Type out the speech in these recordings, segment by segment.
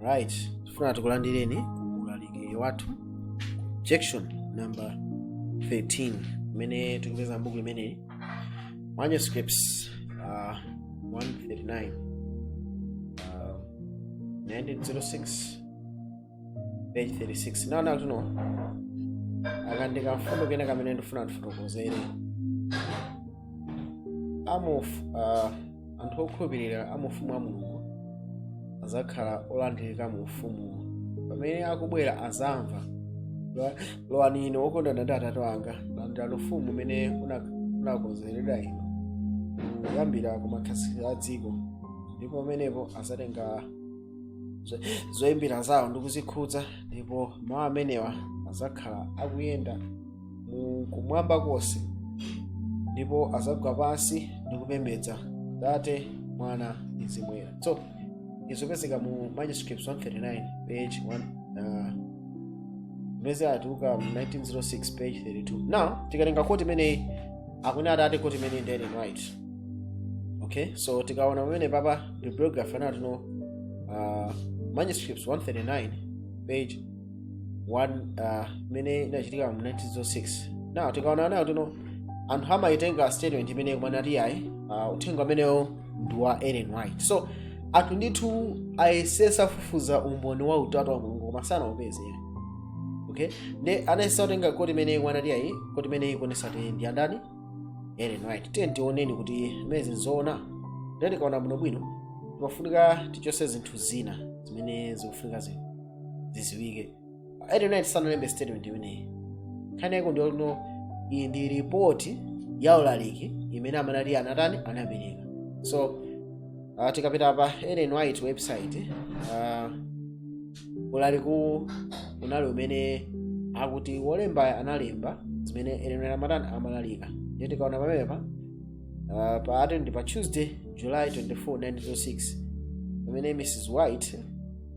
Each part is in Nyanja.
right tifuna tikulandireni ku ulaliki wathu objection number 13 imene tikupeza m'buku limeneli manuscripts uh, 139 uh, 1906 page 36 now tuno akandika mfundo kena kamene ndifuna tifotokozere um uh, anthu okhulupirira a mu ufumu wa mulungu adzakhala olandirika mu ufumuwo pamene akubwera azamva "Lowa- lowani inu okondana ndi atate wanga landirani ufumu umene una- unakonzeredwa inu kuyambira ku makhazikidwe a dziko ndipo pamenepo azatenga zo- zoyimbira zawo ndi kuzikhudza ndipo mawu amenewa azakhala akuyenda mu kumwamba konse ndipo azagwa pansi ndi kupembedza tate mwana ndi mzimu woyera so izo zopezeka mu manuscripts 139 page 1 uh, zimene zatuluka mu 1906 page 32 now tikatenga quote imeneyi akuna atate quote imeneyi ndi ellen white okay so tikaona pamene papa bibliography anatino uh, manuscripts 139 page one uh, imene inachitika mu 1906 now tikaona nayo tino anthu amayitenga statement imene kumanati ayi uh, uthenga umenewo ndi wa ellen white so anthu ndithu ayesesa kufufuza umboni wa utatu wa mulungu koma sanaupeze okay nde anayesa kutenga quote imene kumanati ayi quote imene ikuonesa kuti ndi andani ellen white tiye tioneni kuti zimenezi nzoona nde tikaona bwinobwino timafunika tichose zinthu zina zimene zikufunika zinthu ziziwike ellen white sanalembe statement imeneyi nkhani yake ndiyo ino iyi ndi report ya ulaliki imene amanati anatani anapereka so uh, tikapita pa ellen white website uh, ulaliku unali umene akuti wolembayo analemba zimene ellen white amatani amalalika ndiye tikaona pamenepa uh, pa ati ndi pa tuesday july 24 1906 pamene mrs white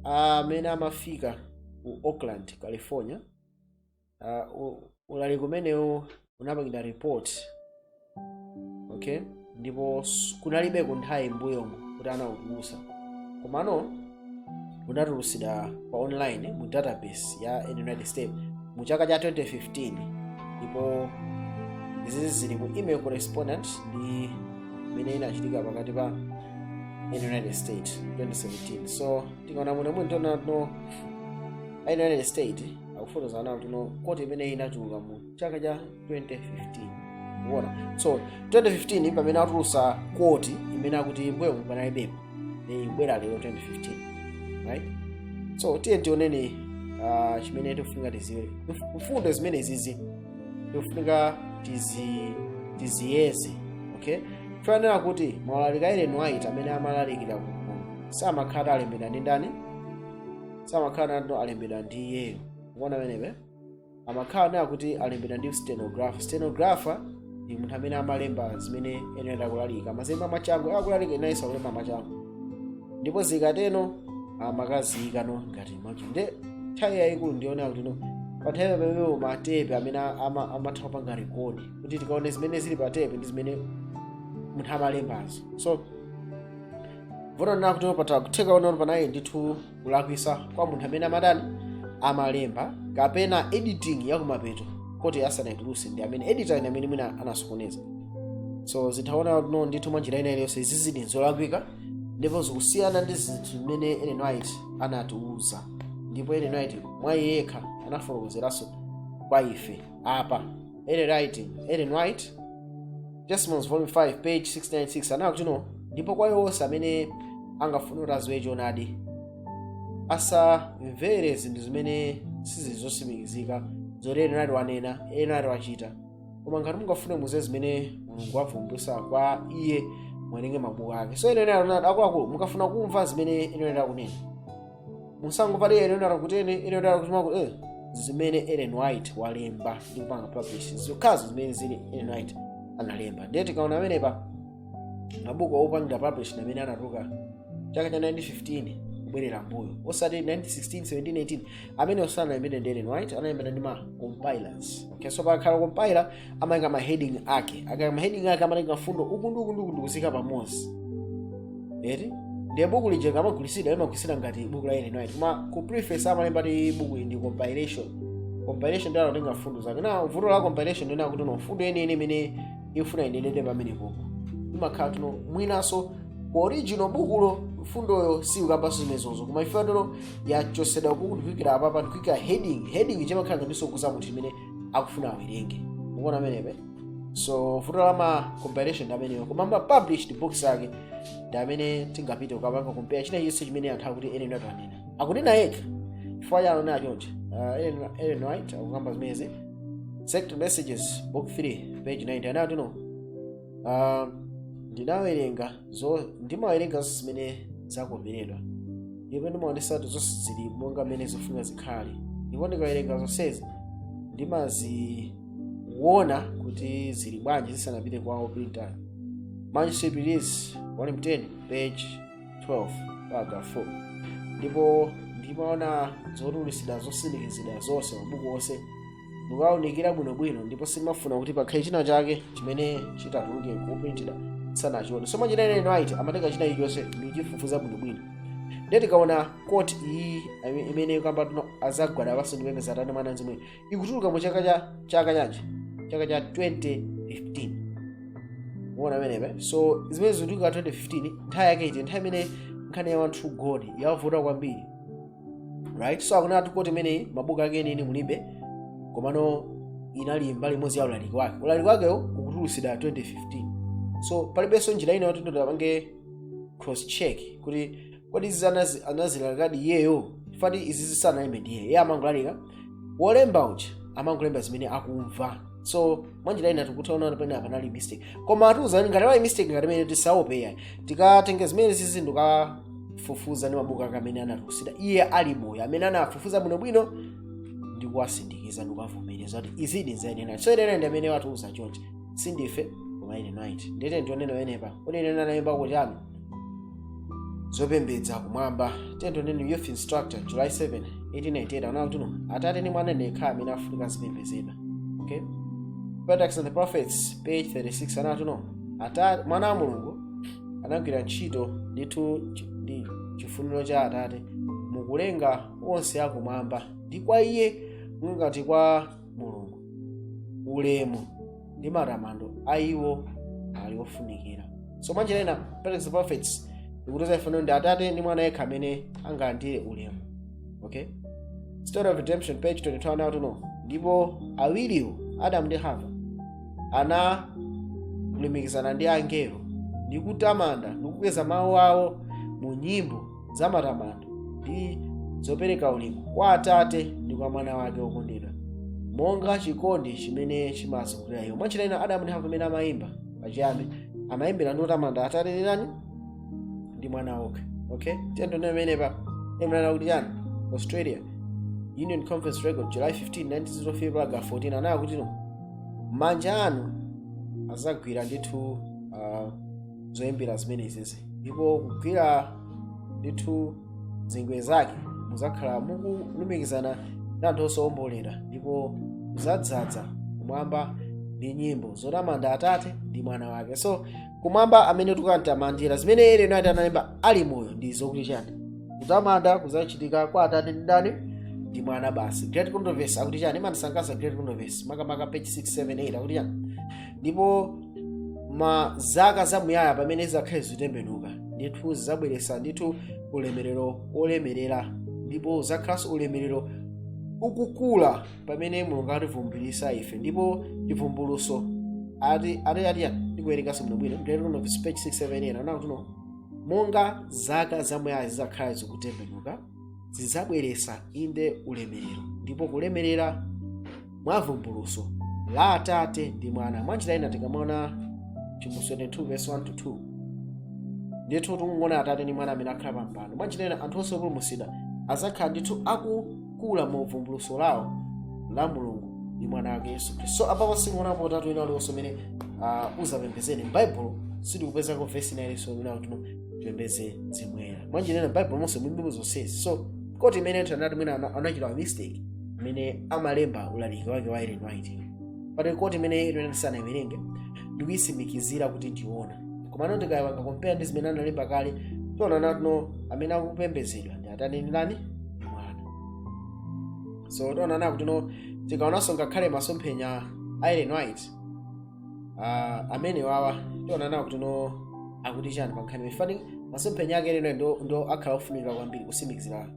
amene amafika ku oakland california uh, u- ulaliki umenewu unapangidwa report okay ndipo s- kunalibe kunthawi mbuyomo kuti anautulutsa komano unatulutsidwa pa online mu database ya united states mu chaka cha 2015 ndipo izi zili mu email correspondence ndi imene inachitika pakati pa in united states 2017 so tikaona muno tiona no a united states akufotokoza nawo kuti no quote imene inatuluka mu chaka cha 2015 kuona so 2015 pamene atulusa quote imene akuti mbuyo panalibepo ni kubwera lero 2015 right so tiyeni tioneni ah, chimene tikufunika tiziwe mfundo zimene izizi ikufunika tiziyeze okay tiyenera kuti maulaliki a ellen white amene amalalikira ku gulu samakhala alembedwa ndi ndani samakhala atalembedwa ndi iyeyo kuona amenepe amakhala nayo kuti alembedwa ndi stenographer stenographer ndi munthu amene amalemba zimene ellen white akulalika amazilemba machangu akulalika amayesa kulemba machangu ndipo zikateno amakaziyika no ngati maji nde nthawi yayikulu ndi yonena kuti no panthawi pamenepa matepe amene ama- amatha kupanga rekodi kuti tikaone zimene zili pa tepe ndi zimene munthu amalembazo so vuto ndi lakuti patha kutheka kuti no panali ndithu kulakwisa kwa munthu amene amatani amalemba kapena editing yakumapeto kuti asanayituluse ndi amene editor ndi amene mwina anasokoneza so tikaona no ndithu mwa njira ina iliyonse izi zili nzolakwika ndipo zikusiyana ndi zinthu zimene ellen white anatiuza ndipo ellen white mwa iye yekha anafotokozeranso kwa ife apa ellen white ellen white testimonies volume 5 page 696 anakuti no ndipo kwa iwo onse amene angafuna kuti adziwe choonadi asamvere zinthu zimene sizili zotsimikizika zoti ellen white wanena ellen white wachita koma ngati mungafune mudziwe zimene mulungu wavumbulutsa kwa iye muwerenge mabuku ake so ellen white akuti akuluakulu mukafuna kumva zimene ellen white akunena musangopati Ellen White akutere Ellen White akuti maku eh zimene Ellen White walemba ndi kupanga publish zokhazo zimene zili Ellen White analemba ndiye tikaona amenepa mabuku opangidwa publish na amene anatuluka chaka cha 1915 kubwerera mbuyo osati 1916 17 18 amenewo sanalembedwe ndi ellen white analembedwa ndi ma compilers okay so pakakhala compiler amaika ma heading ake akaika ma heading ake amatenga mfundo uku ndi uku ndi uku ndikuziika pamodzi eti ndiye buku lija likamagulitsidwa limagulitsidwa ngati buku la ellen white koma ku preface amalemba kuti buku ili ndi compilation compilation ndiye anatenga mfundo zake na vuto la compilation ndi lakuti no mfundo yeniyeni imene ikufuna inenedwe pamenepopo imakhala kuti no mwinanso ku original bukulo mfundoyo siukambanso zimenezozo koma ife kuti no yachosedwa uku n'kuikidwa apapa ndikuika heading heading chimakhala ngati chikuuza munthu imene akufuna awerenge ukuona amenepe so vuto la ma compilation ndi ameneyo koma ma published books ake ndi amene tingapite kukapanga compare china chilichonse chimene anthu akuti ellen white anena akunena yekha chifukwa chake ananena choncho uh, ellen, ellen white akukamba zimezi Selected Messages book 3 page 90 anati no uh, ndinawerenga zo ndimawerenga zonse zimene zakoperedwa ndipo ndimaonetsetsa kuti zonse zili monga mmene zifunika zikhale ndipo ndikawerenga zonsezi ndimaziona kuti zili bwanji zisanapite kwa oprinter manuscript release volume 10 page 12 paragraph 4 ndipo ndimaona zotulutsidwa zosindikizidwa zonse mabuku onse ndimawunikira bwinobwino ndipo sindimafuna kuti pakhale china chake chimene chitatuluke kuprinted ndisanachione so mwanjira ina Ellen White amatenga china chilichonse ndi kuchifufuza bwinobwino ndiye tikaona quote iyi imene ikukamba kuti no azagwada pansi ndi kupembedza atate mwana mzimu ikutuluka mu chaka cha chaka chanji chaka cha 2015 muona pamenepo so zimene zikutuluka 2015 nthawi yake iti nthawi imene nkhani ya one true god yavuta kwambiri right so akunena quote imeneyi mabuku ake enieni mulibe komano inali mbali imodzi ya ulaliki wake ulaliki wakewo ukutulutsidwa 2015 so palibenso njira ina yoti tipange cross check kuti kodi izi anazi- anazilalikadi iyeyo kuti izi zisanalembedwe ndi iye iye amangolalika wolemba uja amangolemba zimene akumva so mwanjira ina tikutha kuona pamenepa panali mistake koma akutiuza chani ngati pali mistake ngati imeneyi tisaope iyayi tikatenge zimene zizi ndi kufufuza ndi mabuku ake amene anatisiyira iye ali moyo amene anafufuza bwinobwino ndi kuwasindikiza ndi kuwavomereza kuti izidi nzayenera so Ellen White ndi amene watiuza chonchi sindife koma Ellen White nde tiyeni tione pamenepa kodi iye analemba kuti ami zopembedza kumwamba tiyeni tione youth instructor july 7 1898 anati no atate ndi mwana okha amene afunika azipembedzedwa okay Patriarchs and the prophets page 36 anati no atate mwana wa mulungu anagwira ntchito ndithu chi- ndi chifuniro cha atate mukulenga onse akumwamba ndi kwa iye ngati kwa mulungu ulemu ndi matamando a iwo ali ofunikira so mwanjira ina Patriarchs and prophets ikutiuza ife kuti no ndi atate ndi mwana yekha amene angalandire ulemu okay story of redemption page 22 anati no ndipo awiriwo adamu ndi hava analumikizana ndi angelo ndi kutamanda ndi kukweza mawu awo mu nyimbo za matamando ndi zopereka ulemu kwa atate ndi kwa mwana wake wokondedwa monga chikondi chimene chimawazungulira iwo mwanjira ina adamu ndi hava amene amayimba pachiyambi amayimbira ndi kutamanda atate ndi ndani ndi mwana wake okay tiyeni tione pamenepa akunena kuti chani australia union conference record july 15 1904 paragraph 14 ananena kuti no manja anu azagwira ndithu uh, zoyimbira zimenezi ndipo kugwira ndithu zingwe zake muzakhala mukulumikizana ndi anthu osawombolera ndipo muzadzaza kumwamba ndi nyimbo zotamanda atate ndi mwana wake so kumwamba amene tikamtamandira zimene ellen white analemba ali moyo ndi zokuti chani kutamanda kuzachitika kwa atate ndi ndani ndi mwana basi great controversy akuti chani imandisangalatsa great controversy makamaka page 678 akuti chani ndipo ma zaka zamuyaya pamene zizakhale zikutembenuka ndithu zizabweretsa ndithu ulemerero wolemerera ndipo zakhalanso ulemerero ukukula pamene mulungu ativumbulisa ife ndipo chivumbuluso ati ati ati ndikuwerenganso bwinobwino great controversy page 678 anakuti no monga zaka zamuyaya zizakhala zikutembenuka zidzabweretsa inde ulemerero ndipo kulemerera mwa vumbuluso la atate ndi mwana mwanjira ina tikamaona chivumbulutso 22 verse 1 to 2 ndithu tikuona atate ndi mwana amene akhala pa mpando mwanjira ina anthu onse opulumutsidwa adzakhala ndithu akukula mu vumbuluso lawo la mulungu ndi mwana wake yesu khristu so apapo sikuonapo utatu wina uliwonse umene uh, uzapembezeni m'baibulo sitikupezako vesi ina iliyonse imene akuti tipembeze mzimu woyera mwanjira ina m'baibulo monse mulibemo zonsezi so quote imene anthu anati mwina ana- anachita mistake imene amalemba ulaliki wake wa ellen white pati quote imene ellen sanayiwerenge ndikuyisimikizira kuti ndi yoona komano ndikapanga compare ndi zimene analemba kale tiona nakuti no amene akupembezedwa ndi atate ndi ndani ndi mwana so tiona nakuti no tikaonanso ngakhale masomphenya a ellen white Ah, amene wawa tiona nawo kuti no akuti chani pa nkhani ifani masomphenya ake Ellen ndo, ndo akhala ofunika kwambiri kusimikizira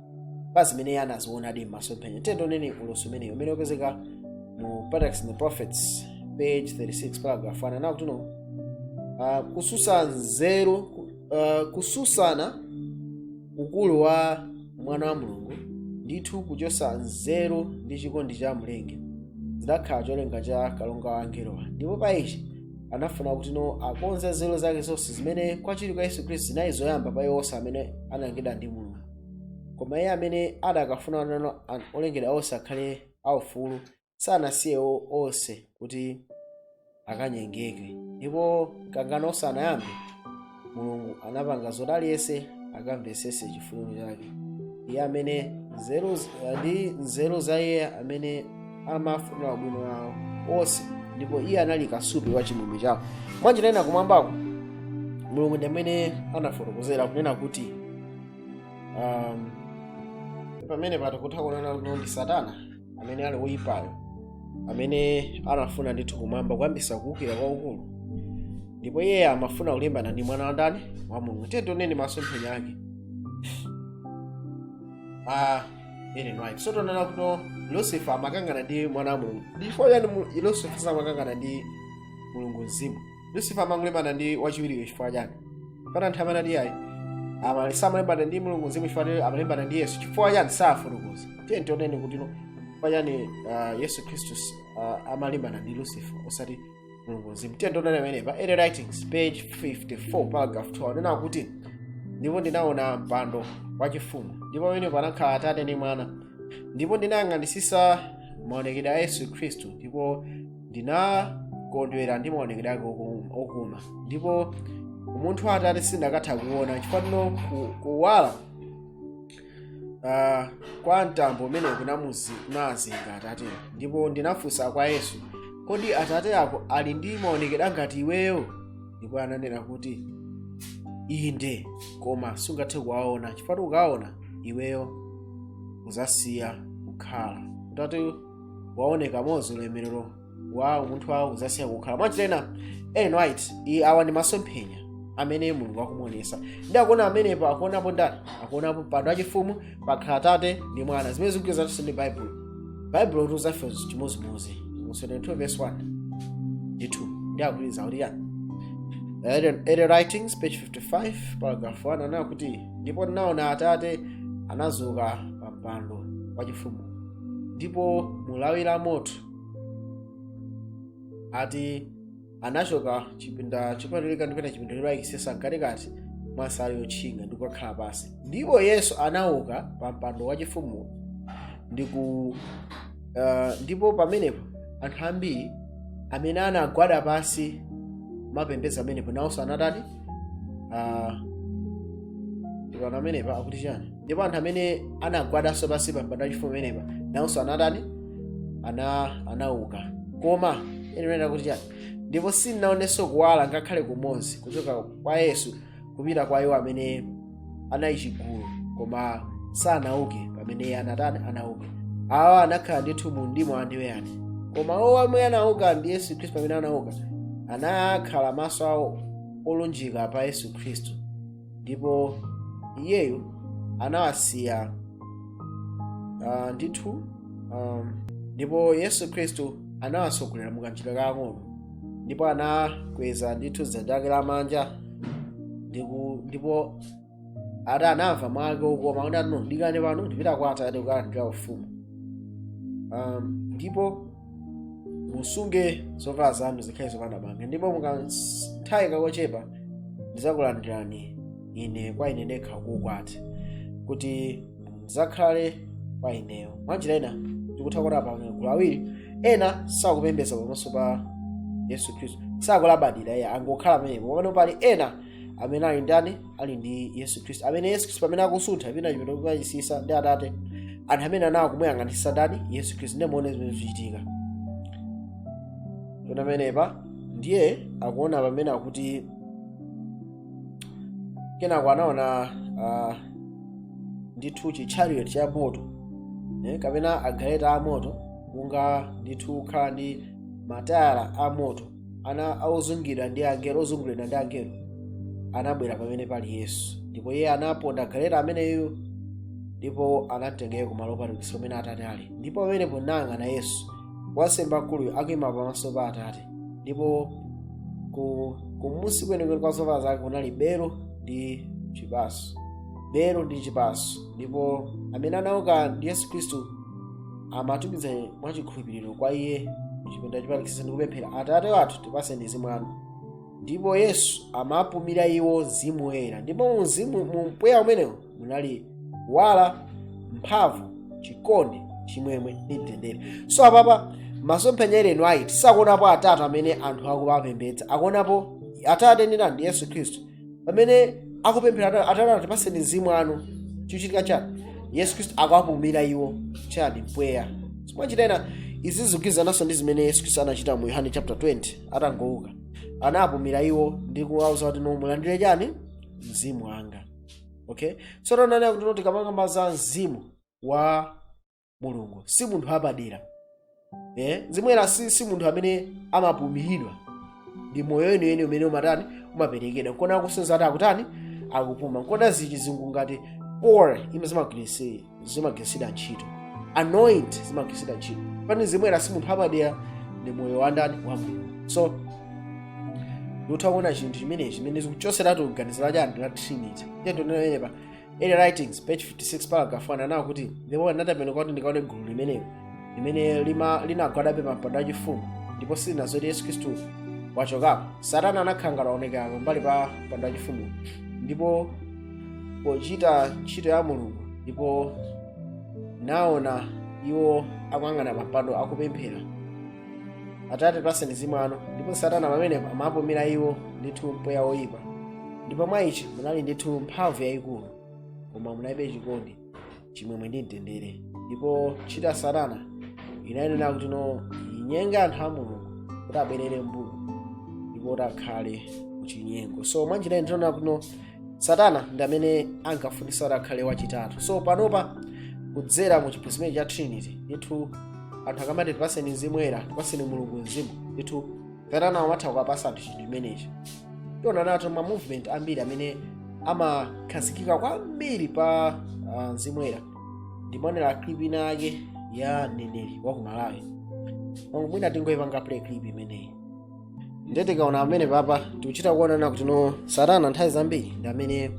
pa zimene iye anazionadi m'masomphenya tiyeni tioneni ulosi umeneyo umene upezeka mu Patriarchs and the Prophets page 36 paragraph 1 anakuti no ah, kususa nzeru ku- ah, kususana ukulu wa mwana wa mulungu ndithu kuchosa nzeru ndi chikondi cha mlengi zidakhala cholinga cha kalonga wa angelowa ndipo pa ichi anafuna kuti no akonze nzeru zake zonse zimene kwachiwiri kwa yesu khristu zinali zoyamba pa iwo onse amene analengedwa ndi mulungu koma iye amene adakafuna nano an- olengedwa onse akhale aufulu sanasiye o- onse kuti akanyengeke ndipo mkangano usanayambe mulungu anapanga zoti aliyense akamvetsetse chifuniro chake iye amene nzeru z- ndi nzeru za iye amene amafunira ubwino wawo onse ndipo iye anali kasupe wa chimwemwe chawo mwanjira ina kumwambako mulungu ndi amene anafotokozera kunena kuti um, pamene patikutha kunena kuti ndi satana amene ali woyipayo amene anafuna ndithu kumwamba kuyambisa kuwukira kwakukulu ndipo iye amafuna kulimbana ndi mwana wa ndani wa mulungu tiye tioneni masomphenya ake ah, ellen white so tonena kuti lucifer amakangana ndi mwana wa mulungu ndipo yani lucifer samakangana ndi mulungu mzimu lucifer amangolimbana ndi wachiwiriyo chifukwa chani kapena anthu amene ati ayi amali samalimbana ndi mulungu mzimu chifukwa chake amalimbana ndi yesu chifukwa chani safotokoza tiye tioneni kuti no chifukwa chani ah, yesu khristu ah, amalimbana ndi lucifer osati mulungu mzimu tiye tioneni amenepa early writings page 54 paragraph 12 anena kuti ndipo ndinaona mpando wachifumu ndipo pamenepo anakhala atate ndi mwana ndipo ndinayang'anisisa maonekedwe a yesu khristu ndipo ndinakondwera ndi maonekedwe ake oku- okuma ndipo umunthu wa atate sindakatha kuona chifukwa ndino ku- kuwala ah, kwa mtambo umene kunamuzi- kunazinga atate ndipo ndinafunsa kwa yesu kodi atate ako ali ndi maonekedwe ngati iweyo ndipo ananena kuti inde koma sungathe kuwaona chifukwa ukaona iweyo uzasiya kukhala utati waoneka mozi ulemerero wa umunthu wawo uzasiya kukhala mwachita ena ellen white iye awa ndi masomphenya amene mulungu akumuonesa ndi akuona amenepo akuonapo ndani akuonapo mpando wachifumu pakhala atate ndi mwana zimene zikugwirizananso ndi baibulo baibulo litiuza ife chimodzimodzi mu 72 verse 1 ndi 2 ndi akugwirizana kuti yani early early writings page 55 paragraph 1 anena kuti ndipo ndinaona atate anazuka pa mpando wachifumu ndipo mulawi la moto ati anachoka chipinda chopatulika ndipena chipinda choyeretsesa mkatikati mwa nsalu yotchinga ndi kukakhala pansi ndipo yesu anauka pa mpando wachifumu ndi ku uh, ndipo pamenepo anthu ambiri amene anagwada pansi mapembeza amenepo nawonso anatani uh, ndikana amenepa akuti chani ndipo anthu amene anagwadanso pansi pa mpando wachifumu amenepa nawonso anatani ana anauka koma anena kuti chani ndipo sindinaonenso kuwala ngakhale kumodzi kuchoka kwa yesu kupita kwa iwo amene anali chigulu koma sanauke pamene iye anatani anauka awa anakhala ndithu mu mdima wa ndiweyani koma awo amene anauka ndi yesu khristu pamene anauka anakhala maso awo olunjika pa yesu khristu ndipo iyeyo anawasiya uh, ndithu um, ndipo yesu khristu anawatsogolera mu kanjira kakang'ono ndipo anakweza ndithu dzanja lake lamanja ndiku- ndipo akuti anamva mwake okoma kuti ano dikirani pano ndipita kwa atate kukalandira ufumu um, ndipo musunge zovala zanu zikhale zopanda banga ndipo mukanthawi kakochepa ndidzakulandirani ine kwa ine ndekha kuukwati kuti mudzakhale kwa ineyo mwanjira ina tikutha kuona apa magulu awiri ena sakupembedza pamaso pa yesu khristu sakulabadira iye angokhala pamenepo pamene pali ena amene ali ndani ali ndi yesu khristu amene yesu khristu pamene akusuntha pena kupita kukachisi ndi atate anthu amene anawo kumuyang'anisisa ndani yesu khristu ndiye muone zimene zichitika taona pamenepa ndiye akuona pamene akuti kenako anaona uh, ndithu chi chariot cha moto eh, kapena galeta a moto kunga ndithu kukhala ndi matayala a moto ana ozungidwa ndi angelo ozunguliridwa ndi angelo anabwera pamene pali yesu ndipo iye anaponda galeta ameneyo ndipo anamtengera kumalo opatulikitsa kumene atate ali ndipo pamenepo ndinayang'ana yesu wansembe mkuluyo akuima pamaso pa atate ndipo ku kumunsi kwenikweni kwa zovala zake kunali belo ndi chipaso belo ndi chipaso ndipo amene anauka ndi yesu khristu amatumiza mwa chikhulupiriro kwa iye mchipinda chopatulikitsitsa ndi kupemphera atate wathu tipatseni mzimu wanu ndipo yesu amapumira iwo mzimu woyera ndipo mu mzimu mu mpweya umenewo munali kuwala mphamvu chikondi chimwemwe ndi mtendere so apapa masomphenya ellen white sakuonapo atatu amene anthu akuwapembedza akuonapo atate ndi ndani ndi yesu khristu pamene akupemphera ata- atate tipatseni mzimu wanu chikuchitika chani yesu khristu akuwapumira iwo chani mpweya so mwanjira ina izi zikugwirizananso ndi zimene yesu khristu anachita mu yohane chapter 20 atangouka anapumira iwo ndi kuwauza kuti no mulandire chani mzimu wanga okay so taonani akuti tikamakamba za mzimu wa mulungu si munthu wapadera eh? mzimu woyera si, si munthu amene amapumiridwa ndi moyo weniweni umene umatani umaperekedwa nkuona akusenza ati akutani akupuma nkuona zichi zinthu ngati oil zimagwirisi- zimagwiritsidwa ntchito anoint zimagwiritsidwa ntchito pani mzimu woyera si munthu wapadera ndi moyo wandani wa mulungu so tikutha kuona chinthu chimenechi chimene zikuchoseratu kuganizira chani la trinity tiyeni tione pa Early writings page 56 paragraph 1 ananawo kuti ndipo ndinatembenuka kuti ndikaone gulu limenelo limene lima- linagwadabe pampando wachifumu ndipo silinaziwe kuti yesu khristu wachokapo satana anakhala ngati aonekera pambali pa mpando wachifumu ndipo pochita ntchito ya mulungu ndipo naona iwo akuyang'ana pampando akupemphera atate tipaseni mzimu wanu ndipo satana pamenepo amapumira iwo ndithu mpweya woyipa ndipo mwa ichi munali ndithu mphamvu yayikulu koma munalibe chikondi chimwemwe ndi mtendere ndipo ntchito ya satana inayenera kuti no inyenge anthu a mulungu kuti abwerere mbuyo ndipo kuti akhale kuchinyengo so mwanjira ino tinaona kuti no satana ndi amene ankafunisa kuti akhale wachitatu so panopa kudzera mu chiphunzitso cha trinity ndithu anthu akamati tipaseni mzimu woyera tipaseni mulungu mzimu ndithu satana amatha kukapasa anthu chinthu chimenechi tionanso kuti no ma movement ambiri amene amakhazikika kwambiri pa uh, mzimu woyera ndimaonera clip ina yake ya mneneri wa ku malawi mwina tingoyipanga play clip imeneyi ndiye tikaona pamenepapa tikuchita kuonano kuti no satana nthawi zambiri ndi amene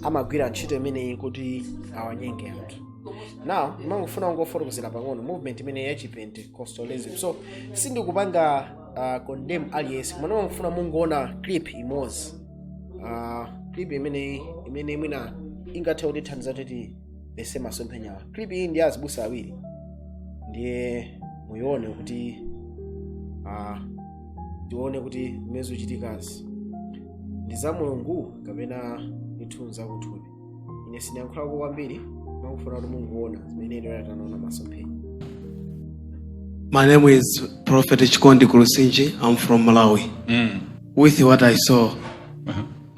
amagwira ntchito imeneyi kuti awanyenge anthu now ndimangofuna kungofotokozera pang'ono movement imeneyi ya chipentecostalism so sindikupanga uh, condemn aliyense koma ndimangofuna mungoona clip imodzi uh, clip imeneyi imene mwina ingathe kutithandiza kuti tiyese masomphenyawa clip iyi ndi azibusa awiri ndiye muyione kuti ah, tione kuti zimene zikuchitikazi ndi za mulungu kapena ndithu zakuthupi ine sindiyankhulako kwambiri ndikufuna kuti mungoona zimene ine tanaona masomphenya My name is Prophet Chikondi Kurusinji. I'm from Malawi. With what I saw,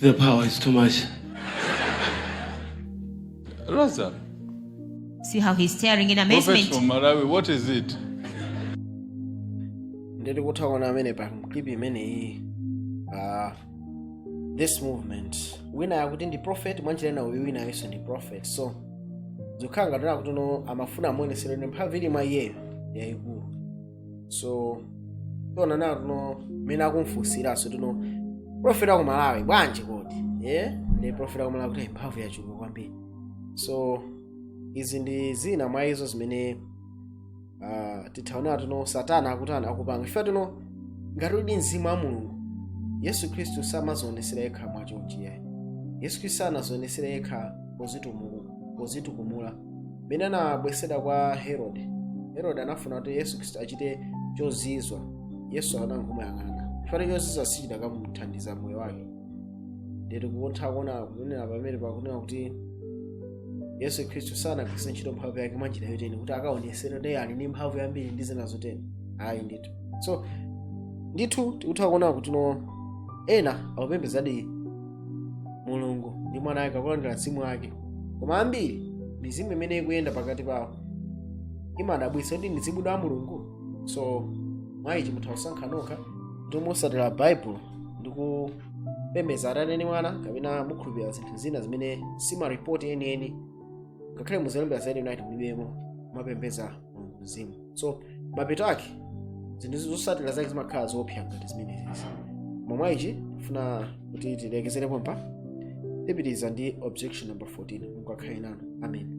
The power is too much. Raza, See how he's staring in prophet amazement. from Malawi, what is it? ndiri kutha kuona pamenepa pa clip imeneyi ah, this movement wina akuti ndi prophet mwanjira ina uyu wina nayenso ndi prophet so zokhala ngati akuti no amafuna amuonesere ine mphamvu ili mwa iyeyo yayikulu so tionanso kuti no mmene akumfunsiranso kuti no profeti wa ku malawi bwanji kodi eh? ndi profeti wa ku malawi kuti mphamvu yachuluka kwambiri so izi ndi zina mwa izo zimene uh, titha kuona kuti no satana akutana akupanga chifukwa kuti no ngati uli mzimu wa mulungu yesu khristu samazionesera yekha mwachonchi ayi yesu khristu sanazionesera yekha pozitumu- pozitukumula mmene anabweretsedwa kwa herode herode anafuna kuti yesu khristu achite chozizwa yesu anangomuyang'ana chifukwa chozizwa sichidakamuthandiza moyo wake nde tikutha kuona kunena pamene pakunena kuti yesu khristu sanagwiritse ntchito mphamvu yake mwa njira yoteni kuti akaonesere kuti ali ndi mphamvu yambiri ndi zina zoteni ayi ndithu so ndithu tikutha kuona kuti no ena akupembezadi mulungu ndi mwana wake akulandira mzimu wake koma ambiri mizimu imene ikuyenda pakati pawo imadabwitsa kuti ndi mizimu ya mulungu so mwa ichi mutha kusankha nokha kuti mutsatira bible ndi kupembeza atate ndi mwana kapena mukhulupirira zinthu zina zimene si maripoti enieni ngakhale muzilembera za united mulibemo mopembeza mulungu mzimu so mapeto ake zinthu zotsatira zake zimakhala zoopsa ngati zimenezi mwa ichi ndifuna kuti tilekezere pompa tipitiriza ndi objection number 14 mulungu akhale nanu amen